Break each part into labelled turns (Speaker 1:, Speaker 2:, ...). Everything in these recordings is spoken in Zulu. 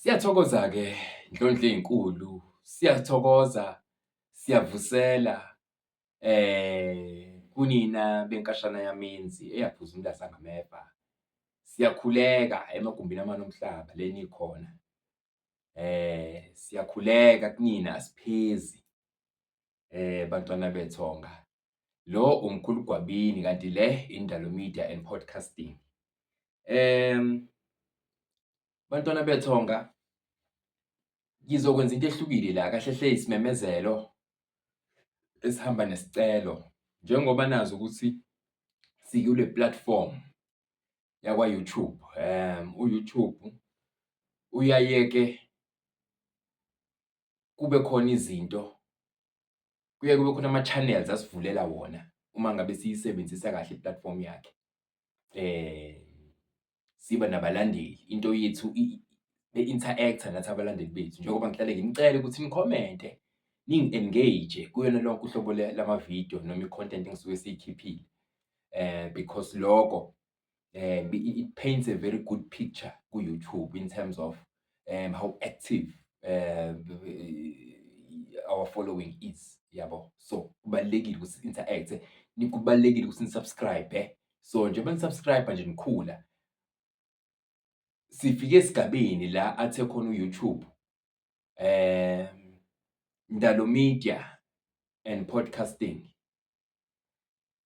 Speaker 1: Siyathokoza-ke Ndlondlo ey'nkulu, siyathokoza, siyavusela um kunina benkashana yamenzi eyaphuza umntazi angameva. Siyakhuleka emagumbini amane omhlaba le nikhona. um siyakhuleka kunina asiphezi um bantwana bethonga. Lo umkhulu Gwabini kanti le Indalo Media and Podcasting. um Bantwana bethonga ngizokwenza into ehlukile la kahle hle isimemezelo esihamba nesicelo njengoba nazi ukuthi sikule platform yakwa YouTube um u YouTube uyayeke kube khona izinto kuye kube khona ama channels asivulela wona uma ngabe siyisebenzisa kahle i platform yakhe eh siba nabalandeli into yethu be-interact-a nathi abalandeli bethu njengoba ngihlale ngimcele ukuthi nikhomente ningi-engage kuyona lonke uhlobo lamavidiyo noma i-content engisuke siyikhiphile um because loko um it paints a very good picture ku-youtube in terms of um how active um our following is yabo so kubalulekile ukuthi si-interact-e kubalulekile ukuthi nisubscribe so njengoba nisubscribe nje nikhula sifike esigabeni la athe khona uYouTube um Ndalo Media and Podcasting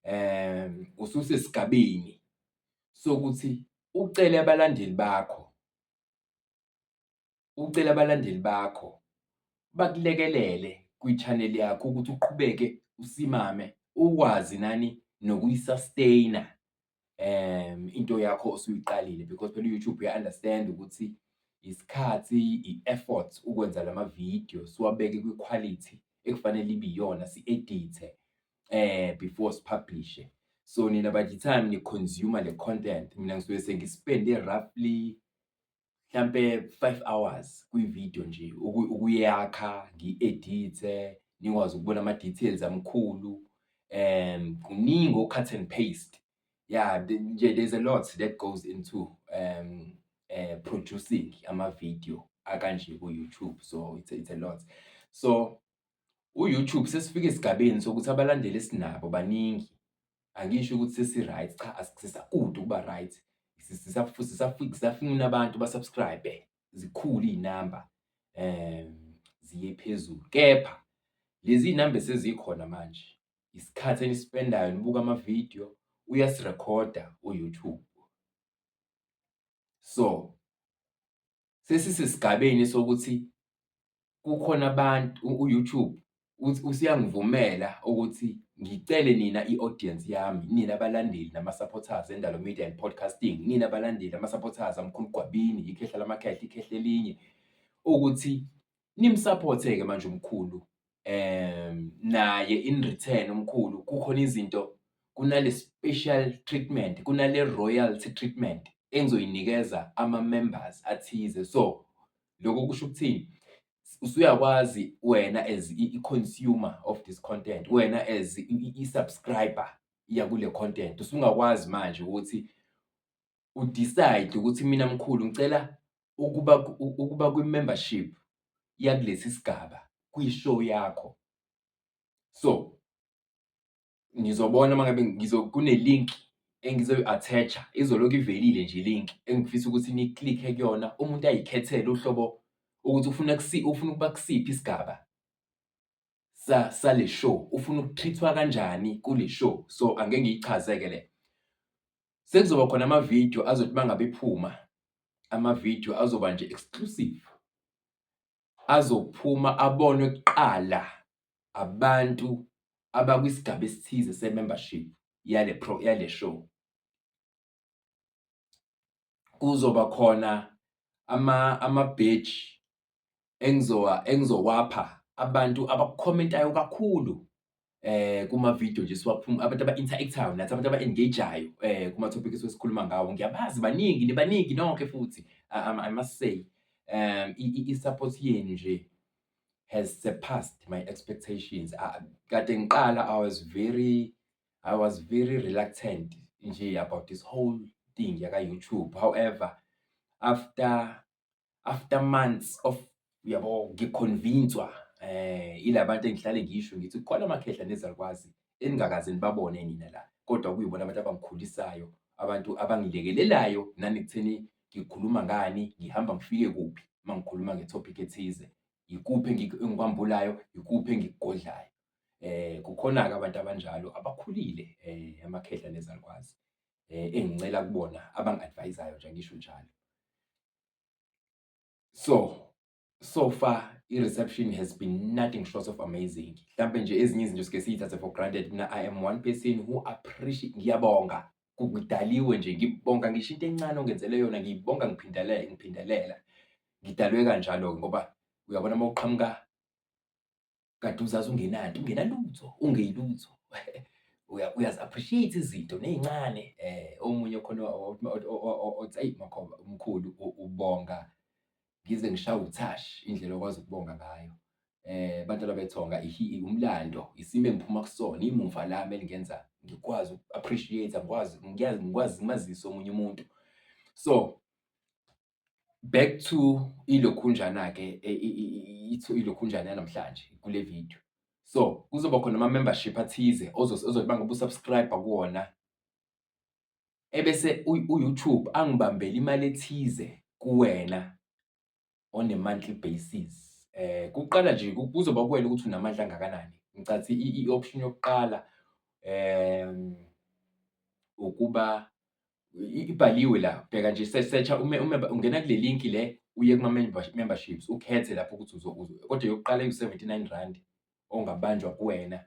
Speaker 1: um ususesigabeni sokuthi ucele abalandeli bakho ucele abalandeli bakho bakulekelele kwi-channel yakho ukuthi uqhubeke usimame ukwazi nani nokuyi-sustainer um into yakho osuyiqalile because phela u-YouTube uya-understand ukuthi isikhathi i-effort ukwenza lama-video siwabeke kwi-quality ekufanele ibe iyona si-edithe eh before sipublishe so nina by the time ni consumer le content mina ngisuke sengispende roughly mhlampe 5 hours kwi video nje ukuyakha ngiedithe nikwazi ukubona ama details amkhulu um kuningi ocut and paste yeah nje there's a lot that goes into um uh, producing ama video akanje ku YouTube so it's a, it's a lot so U-YouTube sesifike esigabeni sokuthi abalandeli esinabo baningi. Angisho ukuthi sesi-right, cha sisakude ukuba right. Sisafuna abantu ba-subscribe, zikhulu iy'namba um ziye phezulu. Kepha lezi iy'namba esezikhona manje, isikhathi enisipendayo nibuka amavidiyo, uyasirekhoda u-YouTube. So sesisesigabeni sokuthi kukhona abantu u-YouTube usuyangivumela ukuthi ngicele nina i-audience yami, nina balandeli nama-supporters eNdalo Media and Podcasting, nina balandeli ama-supporters aMkhulu Gwabini, ikhehla lamakhehla, ikhehla elinye, ukuthi nimsaphotheke manje umkhulu um naye in return umkhulu kukhona izinto kunale special treatment kunale royalty treatment engizoyinikeza ama members athize so lokho kusho ukuthini usuyakwazi wena as i-consumer of this content wena as i-subscriber yakule content usungakwazi manje ukuthi u-decide ukuthi mina mkhulu ngicela ukuba ukuba kwi-membership yakulesi sigaba kwi-show yakho. So, ngizobona uma ngabe kune-link engizoyi-attach-a, izolokhu ivelile nje i-link engifisa ukuthi ni-click-e kuyona, umuntu ayikhethele uhlobo ukuthi ufuna ufuna ukuba kusiphi isigaba sale show, ufuna uku-treat-wa kanjani kule show. So, angeke ngiyichaze-ke le. Sekuzoba khona ama-video azothi mangabe ephuma, ama-video azoba nje exclusive. Azophuma abonwe kuqala abantu abakwisigaba esithize se-membership yale pro yale show. Kuzoba khona ama ama-badge engizowa engizokwapha abantu abakukhomentayo kakhulu eh kuma video nje siwaphuma abantu aba interactayo nathi abantu aba engageayo eh kuma topics esikhuluma ngawo ngiyabazi baningi nibaningi nonke futhi I must say um i support yenu nje has surpassed my expectations kade ngiqala I was very I was very reluctant nje about this whole thing yaka YouTube however after after months of uyabo ngiconvinswa eh ilabantu engihlale ngisho ngithi khona amakhehla nezalukwazi eningakaze nibabone nina la kodwa kuyibona abantu abangikhulisayo abantu abangilekelelayo nani kutheni ngikhuluma ngani ngihamba ngifike kuphi mangikhuluma ngetopic ethize yikuphi engikwambulayo yikuphi engikugodlayo eh kukhona ke abantu abanjalo abakhulile eh amakhehla nezalukwazi eh engincela kubona abangadvisayo nje ngisho njalo so so far i-reception has been nothing short of amazing mhlawumbe nje ezinye izinto sike siyithathe for granted mina i am one person who appreciate ngiyabonga kudaliwe nje ngibonga ngisho into encane ongenzele yona ngiyibonga ngiphindelela ngiphindelela ngidalwe kanjalo ngoba uyabona uma uqhamuka kade uzazi ungenanto ungenalutho ungeyilutho uyazi appreciate izinto nezincane eh omunye khona othi ayi makhoba umkhulu ubonga ngize ngishaye uthash indlela okwazi ukubonga ngayo eh abantu ababethonga umlando isimo engiphuma kusona imuva lami elingenza ngikwazi appreciate ngikwazi ngiyazi ngikwazi ngimazisa omunye umuntu so Back to ilokhunjana-ke ilokhunjana yanamhlanje kule video. So kuzoba khona ama-membership athize ozothi uma ngabe usubscribe kuwona ebese u-YouTube angibambele imali ethize kuwena on a monthly basis. Eh kuqala nje kuzoba kuwena ukuthi unamandla angakanani. Ngicathi i-option yokuqala em ukuba ibhaliwe la bheka nje searcha ume ume ungena kule link le uye kuma memberships ukhethe lapho ukuthi uzokuzo kodwa yokuqala iwu 79 rand ongabanjwa kuwena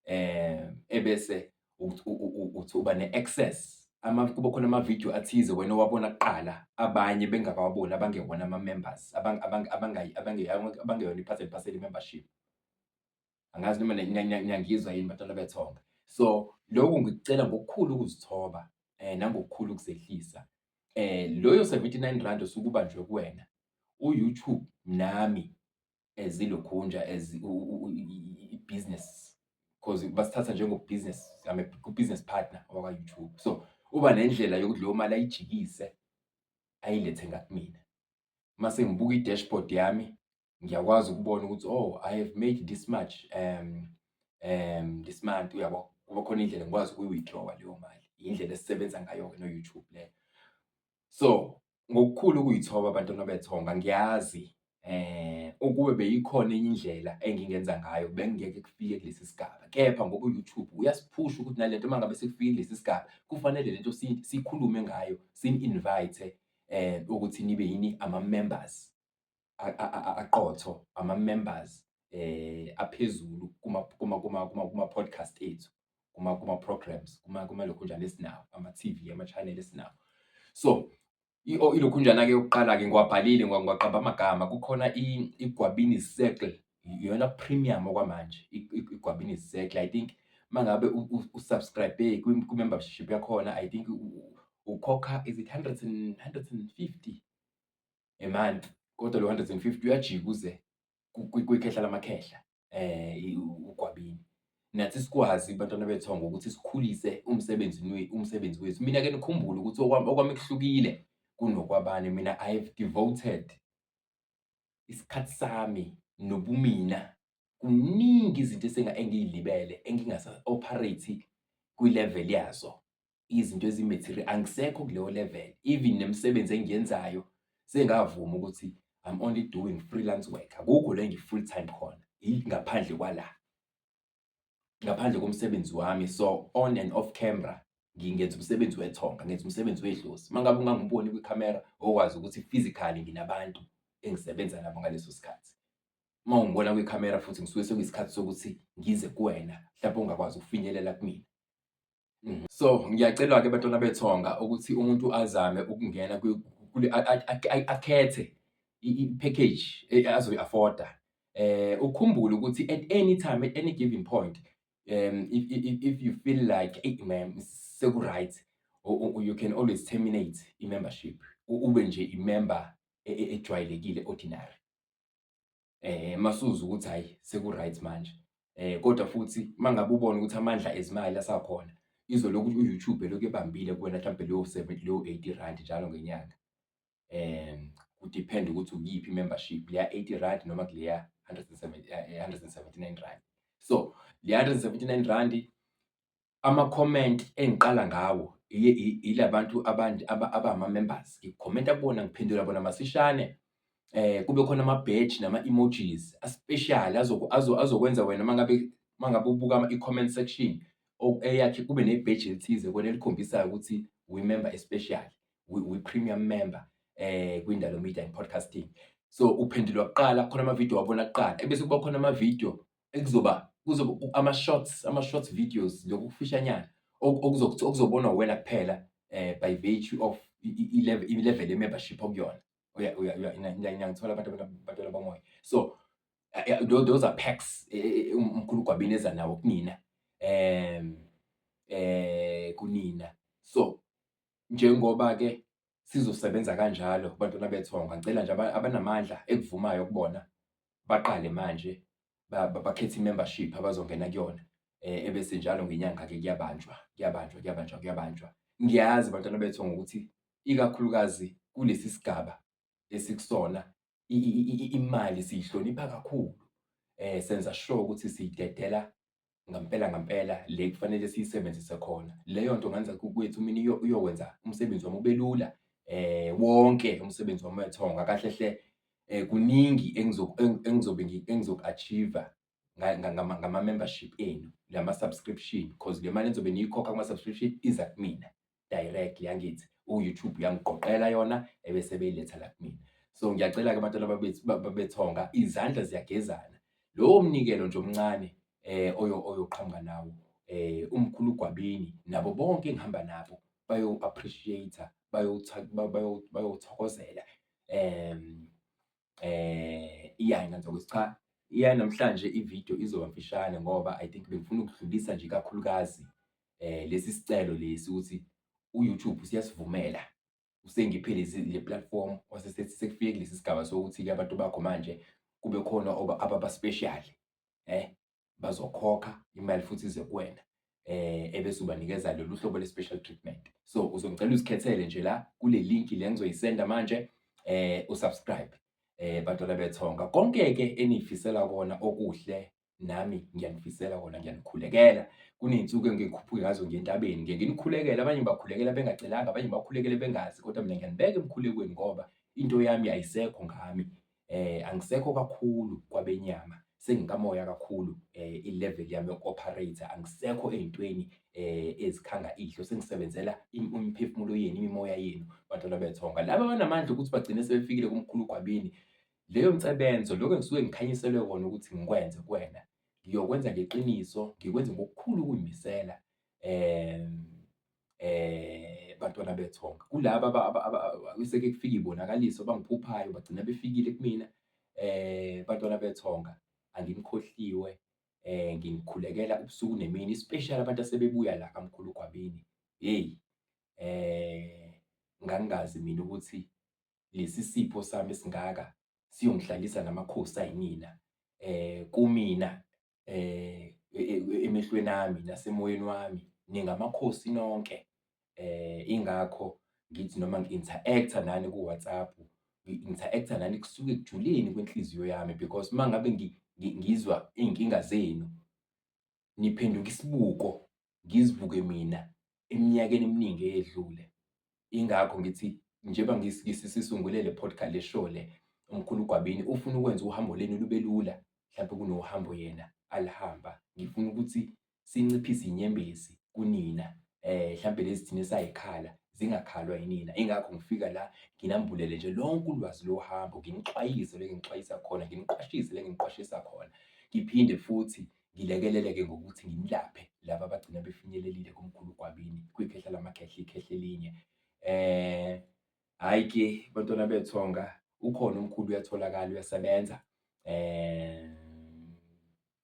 Speaker 1: eh ebese uthi uba ne access ama kuba khona ama video athize wena owabona kuqala abanye bengakawaboni abangewona ama members abangeyona iphathele paseli membership angazi noma niyangizwa yini batwana bethonga so lokhu ngikucela ngokukhulu ukuzithoba eh nangokukhulu ukuzehlisa eh loyo 79 rand osukuba nje kuwena uYouTube nami ezilokhunja eh, as business because basithatha njengo business I'm a business partner wakwa YouTube so uba nendlela yokuthi leyo mali ayijikise ayilethe ngakumina mase ngibuka i-dashboard yami ngiyakwazi ukubona ukuthi oh i have made this much um um this month uyabo kuba khona indlela ngikwazi ukuyi-withdrawa leyo mali indlela esisebenza ngayo-ke no-youtube leyo so ngokukhulu ukuyithoba abantwana bethonga ngiyazi eh ukube beyikhona enye indlela engingenza ngayo bengingeke kufike kulesi sigaba kepha ngoba u-youtube uyasiphusha ukuthi nalento uma ngabe sekufike kulesi sigaba kufanele lento siyikhulume ngayo sini-invite eh ukuthi nibe yini ama-members aqotho ama members eh aphezulu kuma kuma kuma kuma kuma podcast ethu kuma kuma programs kuma kuma lokhunjana esinawo ama TV ama channel esinawo so ilokhunjana ke yokuqala ke ngiwabhalile ngiwaqamba amagama kukhona igwabini circle iyona premium okwamanje igwabini circle i think mangabe usubscribe kwi membership yakhona i think ukhokha is it 100 and 150 a month kodwa lo 150 uyajika uze kwikhehla lamakhehla eh ugwabini nathi sikwazi bantwana bethongo ukuthi sikhulise umsebenzi umsebenzi wethu mina ke nikhumbule ukuthi okwami okwami kuhlukile kunokwabani mina i have devoted isikhathi sami nobumina kuningi izinto esenga engiyilibele engingasa operate kwi level yazo izinto ezimaterial angisekho kuleyo level even nemisebenzi engiyenzayo sengavuma ukuthi I'm only doing freelance work akukho la ngiyi-full time khona ngaphandle kwala ngaphandle komsebenzi wami so on and off camera ngingenza umsebenzi wethonga ngenza umsebenzi wedlozi uma ngabe ungangiboni kwikhamera okwazi ukuthi physically nginabantu engisebenza nabo ngaleso sikhathi uma ungibona kwikhamera futhi ngisuke sekuyisikhathi sokuthi ngize kuwena mhlawumbe ungakwazi ukufinyelela kumina Mhm. So ngiyacelwa-ke bantwana bethonga ukuthi umuntu azame ukungena kwi- kule- a- a- a- a- akhethe i- i- i-package e- azoyi-afforda. Eh, ukhumbule ukuthi at any time, at any given point, um, if, if, if- if you feel like, hey, man, seku-right, u- u- u- you can always terminate i-membership. U- Ube nje i-member e- e- ejwayelekile, ordinary. eh masuza ukuthi hayi seku right manje eh kodwa futhi mangabe ubona ukuthi amandla ezimali asakhona izolokhu uYouTube lokhu ebambile kuwena mhlawumbe leyo 70 leyo 80 rand njalo ngenyanga eh kudepend ukuthi uyiphi membership leya 80 rand noma kuleya 179 eh, rand so le 179 rand ama-comment engiqala ngawo yila bantu abama-members ngikhomenta kubona ngiphendula bona masishane eh kube khona ama-badge nama-emojis aspecial azokwenza wena mangabe mangabe ubuka i-comment section eyakhe kube ne-badge elithize kona elikhombisayo ukuthi we-member especial we-premium member eh kwindalo media and podcasting so uphendulwa kuqala khona ama-video wabona kuqala ebese kuba khona ama-video ekuzoba kuzoba ama-shorts ama-shorts videos lokhu kufishanyana okuzobonwa uwena kuphela um by virtue of i-level ye-membership okuyona ngithola abantu abantwana bamoya so those are packs e, e, e, umkhulu ugwabini eza nawo kunina um eh kunina so njengoba ke sizosebenza kanjalo kubantwana bethonga ngicela nje abanamandla ekuvumayo kubona baqale manje bakhethe i-membership abazongena kuyona eh, ebese njalo ngenyanga-ke kuyabanjwa kuyabanjwa kuyabanjwa kuyabanjwa ngiyazi bantwana bethu ngokuthi ikakhulukazi kulesi sigaba esikusona imali siyihlonipha kakhulu um senza sure ukuthi siyidedela ngampela ngampela le kufanele siyisebenzise khona leyo nto ngenza kwethu mina uyokwenza umsebenzi wami ubelula eh wonke umsebenzi wami wethonga kahle hle eh kuningi engizobe engizoku-achieve ngama-membership enu ngama-subscription because le mali engizobe niyikhokha kuma-subscription iza kumina directly yangithi uYouTube uyangiqoqela yona ebese beyiletha la kumina so ngiyacela ke abantwana babethonga izandla ziyagezana lowo mnikelo nje omncane eh oyo oyoqhamuka nawo eh umkhulu gwabini nabo bonke engihamba nabo bayo appreciate bayothokozela em eh iyana nje ukuthi cha iya namhlanje ivideo izoba mfishane ngoba i think bengifuna ukudlulisa nje kakhulukazi eh lesi sicelo lesi ukuthi uYouTube usiyasivumela usengiphe lezi le platform wasesethi sekufike kulesi sigaba sokuthi-ke abantu bakho manje kube khona oba ababa special eh bazokhokha imali futhi ize kuwena eh ebese ubanikeza lolu hlobo le-special treatment so uzongicela uzikhethele nje la kule link le ngizoyisenda manje eh usubscribe eh bantwana bethonga konke ke enifisela kona okuhle nami ngiyanifisela kona ngiyanikhulekela kuney'nsuku engikhuphuke ngazo ngentabeni ngeke nikhulekele abanye bakhulekela bengacelanga abanye bakhulekele bengazi kodwa mina ngiyanibeka emkhulekweni ngoba into yami ayisekho ngami eh angisekho kakhulu kwabenyama sengikamoya kakhulu eh ilevel yami yokuoperate angisekho ezintweni eh ezikhanga idlo sengisebenzela imiphefumulo yenu imimoya yenu bantwana bethonga laba banamandla ukuthi bagcine sebefikile kumkhulu gwabini leyo msebenzo lokho engisuke ngikhanyiselwe kona ukuthi ngikwenze kuwena ngiyokwenza ngeqiniso ngikwenze ngokukhulu ukuyimisela um eh bantwana bethonga kulaba akuseke kufika ibonakaliso bangiphuphayo bagcina befikile kumina eh bantwana bethonga angimkhohliwe eh ngimkhulekela ubusuku nemini especially abantu asebebuya la kamkhulu gwabini hey eh ngangazi mina ukuthi lesi sipho sami singaka siyongihlalisa namakhosi ayinina eh kumina emehlweni ami nasemoyeni wami ningamakhosi nonke. Ingakho ngithi noma ngi-interact-a nani ku-WhatsApp, ngi-interact-a nani kusuke ekujuleni kwenhliziyo yami because uma ngabe ngizwa iy'nkinga zenu, niphenduka isibuko ngizibuke mina eminyakeni eminingi eyedlule. Ingakho ngithi njengoba ngisisungule le podcast le show le umkhulu Gwabini ufuna ukwenza uhambo lenu lube lula mhlawumbe kunohambo yena alihamba. Ngifuna ukuthi sinciphise inyembezi kunina eh mhlawumbe lezi thina esayikhala zingakhalwa yinina. Ingakho ngifika la nginambulele nje lonke ulwazi lohambo, nginixwayise le nginixwayisa khona, nginiqwashise le nginiqwashisa khona. Ngiphinde futhi Ngilekelele-ke ngokuthi ngimlaphe laba abagcina befinyelelile kumkhulu uGwabini kwikhehla lamakhehla ikhehla elinye. Eh hhayi ke bantwana bethonga ukhona umkhulu uyatholakala uyasebenza. Eh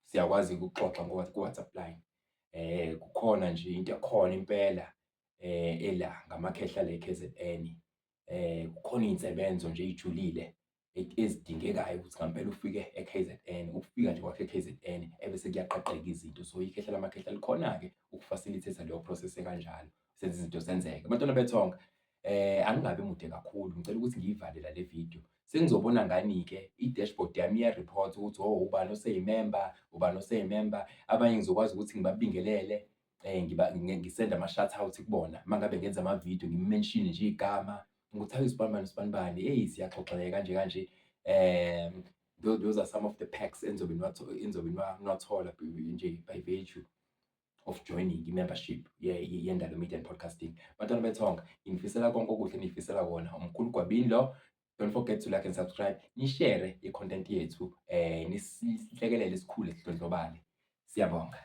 Speaker 1: siyakwazi ukuxoxa ku-WhatsApp line. Eh kukhona nje into ekhona impela eh ela ngamakhehla le KZN. um kukhona iy'nsebenzo nje ey'julile ezidingekayo ukuthi ngampela ufike e-K_Z_N. Ukufika nje kwakho e-K_Z_N ebese kuyaqaqeka izinto. So, ikhehla lamakhehla likhona-ke uku-facilitate-a leyo process ekanjalo, senze izinto zenzeke. Bantwana bethonga, um angingabi mude kakhulu, ngicela ukuthi ngiyivale la le video. Senizobona ngani-ke i-dashboard yami iya-report-a ukuthi, hho, ubani oseyimemba, ubani oseyimemba. Abanye ngizokwazi ukuthi ngibabingelele, eh ngiba ngisenda ama shout out kubona mangabe ngenza ama video ngi mention nje igama ukuthi awu isibanibani isibanibani hey siyaxoxeka kanje kanje eh those are some of the packs enzobe enzobe nwathola nje by virtue of joining i-membership yendalo media and podcasting bantwana bethonga ngifisela konke okuhle nifisela wona umkhulu gwabini lo don't forget to like and subscribe nishere i-content yethu eh nisihlekelele isikhule sidlondlobale siyabonga